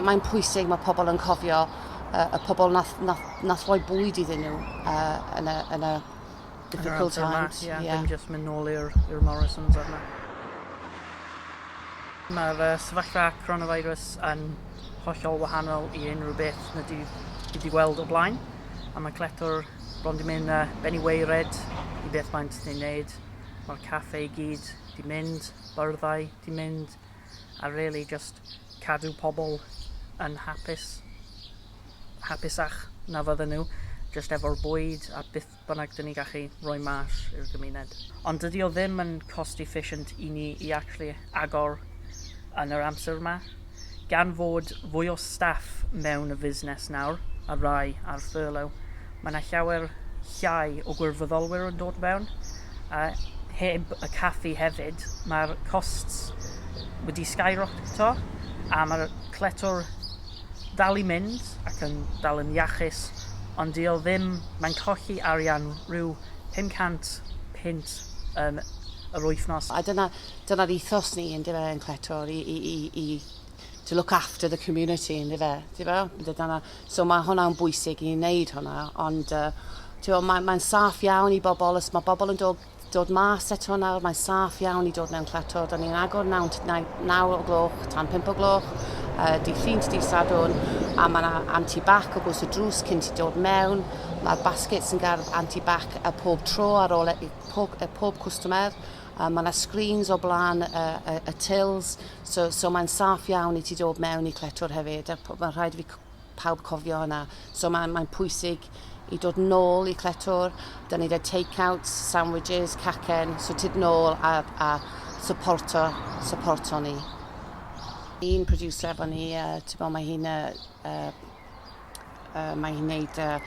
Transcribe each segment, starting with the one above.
Mae'n pwysig, mae pobl yn cofio uh, y pobl nath, nath, nath roi bwyd iddyn nhw uh, yn, y, yn y difficult times. Ie, yeah, yeah. dim jyst mynd nôl i'r Morrisons arno. Mae'r uh, sefyllfa coronavirus yn hollol wahanol i unrhyw beth na di wedi gweld o blaen. A mae cletwr bron di mynd uh, benny weired i beth mae'n ti'n gwneud. Mae'r caffe i gyd di mynd, byrddau di mynd, a rili jyst cadw pobl yn hapus, hapusach na fydden nhw jyst efo'r bwyd a beth bynnag dyn ni gallu rhoi mas i'r gymuned. Ond dydi o ddim yn cost efficient i ni i actually agor yn yr amser yma. Gan fod fwy o staff mewn y fusnes nawr, a rai ar furlough, mae 'na llawer llai o gwirfoddolwyr yn dod mewn, a heb y caffi hefyd ma'r costs wedi skyrockto a ma'r cletwr dal i mynd ac yn dal yn iachus ond 'di o ddim, mae'n colli arian rhyw 500 punt yn yr wythnos. A dyna dyna'r ethos ni yndyfe yn cletwr i i i i to look after the community yndyfe? Ti'bo? Dyna So mae hwnna'n bwysig i ni wneud hwnna, ond uh, ti'n mae'n mae saff iawn i bobl, os mae bobl yn dod, dod mas eto nawr, mae'n saff iawn i dod mewn cleto. Da ni'n agor 9, 9 o gloch tan 5 o gloch, uh, di llun, di sadwn, a mae yna anti-bac o bwys y drws cyn ti dod mewn. Mae'r baskets yn gardd anti-bac y pob tro ar ôl y, e, pob, y e, pob cwstmer. Yy ma' 'na screens o bla'n y y y tills so so mae'n saff iawn i ti dod mewn i cletwr hefyd a p- mae'n rhaid i fi c- pawb cofio hwnna. So mae'n mae'n pwysig i dod nôl i cletwr. 'Dan ni 'da take-outs, sandwiches, cacen, so tyd nôl a a supporto supporto ni. Un producer efo ni yy t'bo mae hi'n yy yy Uh, mae hi'n neud uh,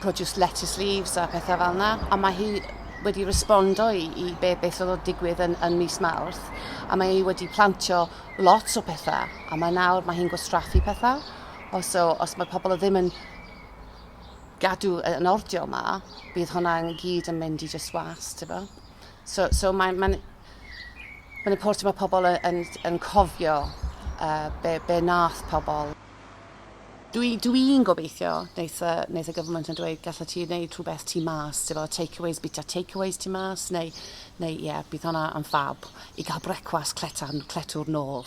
produce lettuce leaves a pethau fel yna. A mae hi wedi respondo i, i be beth oedd o'n digwydd yn, yn mis Mawrth. A mae hi wedi plantio lot o pethau. A mae nawr mae hi'n gwastraffu pethau. O, so, os mae pobl ddim yn gadw yn ordio yma, bydd hwnna'n gyd yn mynd i just was, ti'n bo? So, so mae'n ma, n, ma important mae pobl yn, yn, yn cofio uh, be, be nath pobl. Dwi, dwi'n gobeithio, wnaeth, uh, wnaeth y gyfnod yn dweud, gallet ti wneud rhywbeth tu mas, efo takeaways, bita takeaways tu mas, neu, neu ie, yeah, bydd hwnna yn fab i gael brecwast cletan, cletwr nôl.